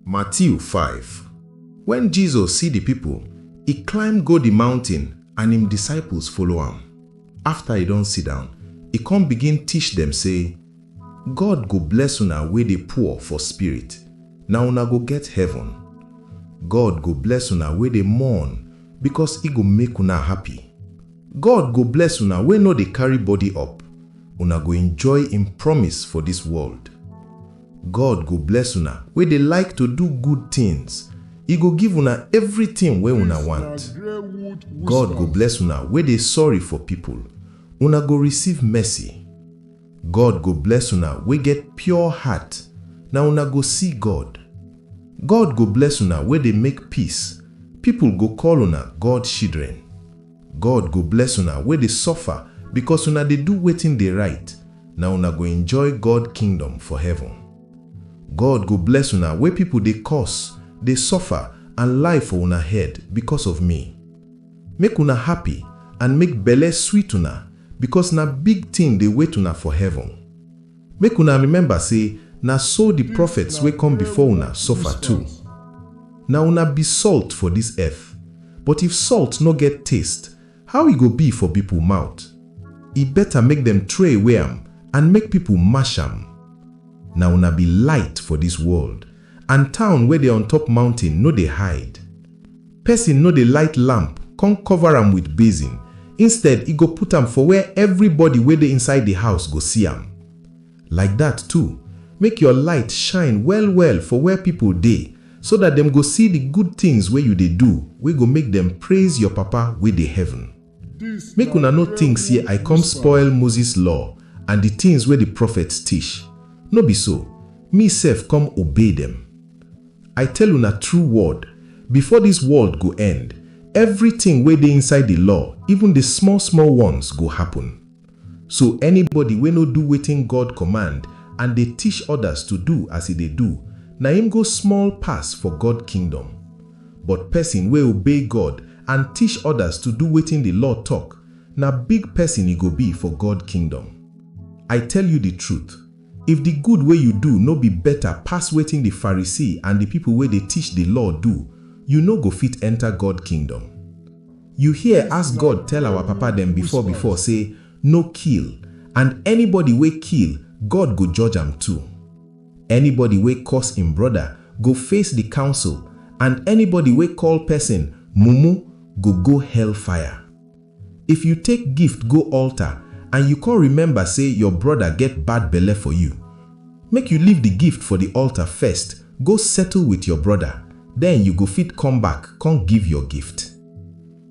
Matiu five Wen Jesus si di pipol, e climb go di mountin and im disciples follow am. Afta e don sidown, e kon begin tish dem sey, God go bless una wey dey poor for spirit, na una go get heaven. God go bless una wey dey mourn, bikos e go make una happy. God go bless una wey nor dey karry body up, una go enjoy im promise for dis world. God go bless una wey dey like to do good tins, E go give una evritin wey una want. God go bless una wey dey sorry for pipol, una go receive mercy. God go bless una wey get pure heart, na una go see God. God go bless una wey dey make peace, pipol go call una God shidren. God go bless una wey dey suffer bikos una dey do wetin dey rite, na una go enjoy God kingdom for heaven. God go bless una wey pipol dey curse, dey suffer and lie for una head bikos of mi. Make una happy and make belle sweet una, bikos na big tin dey wait una for heaven. Make una remember sey na so di prophets wey come before una suffer too. Na una be salt for dis earth, but if salt nor get taste, how e go be for pipo mouth? E better make dem throw away am and make pipo mash am. Na una be light for dis world, and town wey dey on top mountain nor dey hide. Person no dey light lamp come cover am with basin, instead e go put am for where everybody wey dey inside the house go see am. Like that too, make your light shine well well for where people dey, so that dem go see the good things wey you dey do wey go make dem praise your Papa wey dey heaven. Make una no tink sey I come spoil Moses Law and di tins wey di prophets tish. No be so, me sef come obey dem. I tell una true word, before dis world go end, evritin wey dey inside di Law, even di small-small ones, go happun. So anybody wey no do wetin God command and dey tish others to do as e dey do, na im go small pass for God kingdom. But pesin wey obey God and tish others to do wetin di law tok, na big pesin e go be for God kingdom. I tell you di truth, if di good wey you do no be beta pass wetin di Pharisee and di pipo wey dey tish di law do, you no go fit enter God kingdom. You hear as God tell our papa dem before before say no kill and anybody wey kill God go judge am too. Anybody wey curse im brother go face the council and anybody wey call person mumu go go hell fire. If you take gift go altar and you come remember say your brother get bad belle for you, Make you leave di gift for di altar first go settle wit your broda, den you go fit come back kon give your gift.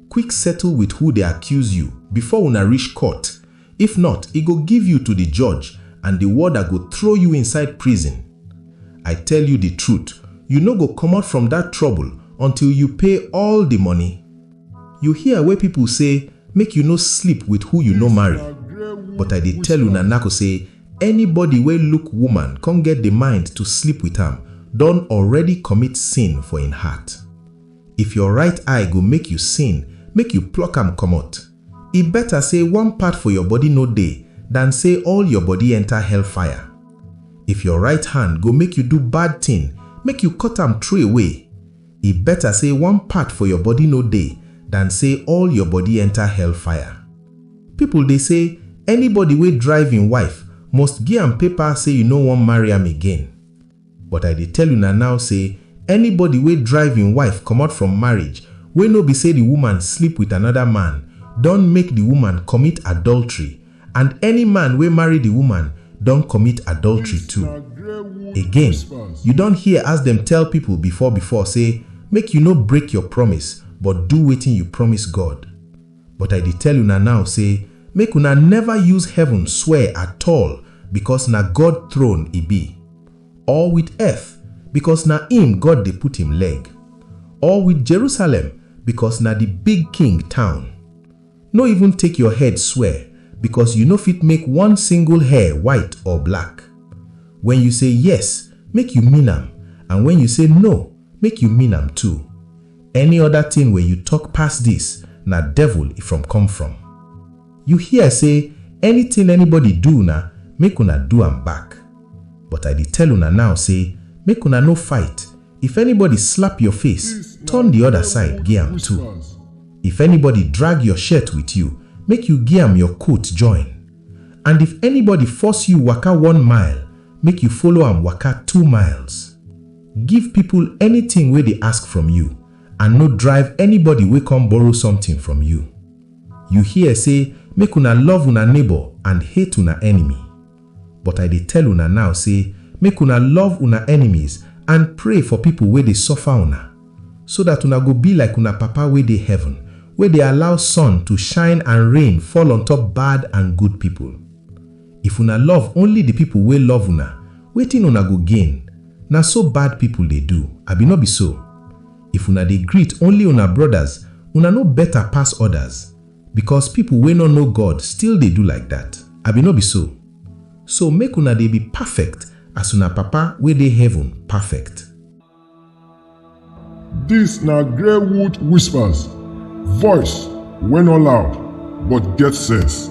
Quick settle wit who dey accuse you before una rish court, if not e go give you to di judge and di warder go trow you inside prison. I tell you di trut, you no go komot from dat trobol until you pay all di money. You hear wey pipol sey make you no sleep wit who you no marry, but I dey tell una nako sey, Anybody wey look woman con get di mind to sleep with am don already commit sin for im heart. If your right eye go make you sin, make you pluck am comot. E better say one part for your body no dey than say all your body enter hellfire. If your right hand go make you do bad thing, make you cut am throwaway. E better say one part for your body no dey than say all your body enter hell fire. People dey say anybody wey drive him wife must gi am paper say you no wan marry am again. But I dey tell una now say anybody wey drive him wife comot from marriage wey no be say the woman sleep with another man don make the woman commit adultery And any man wey marry di woman don commit adultery too. Again, you don hear as dem tell pipo before before sey, Make you no break your promise, but do wetin you promise God. But I dey tell una now sey, Make una neva use heaven swear at-all, becos na God throne e be, or wit earth, becos na im God dey put im leg, or wit Jerusalem, becos na di big king town. No even take your head swear, because you no fit make one single hair white or black. When you say yes, make you mean am, and when you say no, make you mean am too. Any other thing wey you talk pass this, na devil e from come from. You hear say anything anybody do una, make una do am back. But I dey tell una now say make una no fight, If anybody slap your face, turn the other side gi am too. If anybody drag your shirt with you, make you gi am your coat join. And if anybody force you waka one mile, make you follow am waka two miles. Give people anything wey dey ask from you, and no drive anybody wey come borrow something from you. You hear say make una love una neighbor and hate una enemy. But I dey tell una now sey make una love una enemies and pray for pipo wey dey suffer una, so dat una go be like una Papa wey dey heaven, wey dey allow sun to shine and rain fall on top bad and good pipo. If una love only di pipo wey love una, wetin una go gain? Na so bad pipo dey do, abi no be so? If una dey greet only una brodas, una no beta pass odas? Because people wey no know God still dey do like that, abi no be so? So make una dey be perfect as una Papa wey dey heaven perfect. Dis na Greywood Whispers, voice wey no loud but get sense.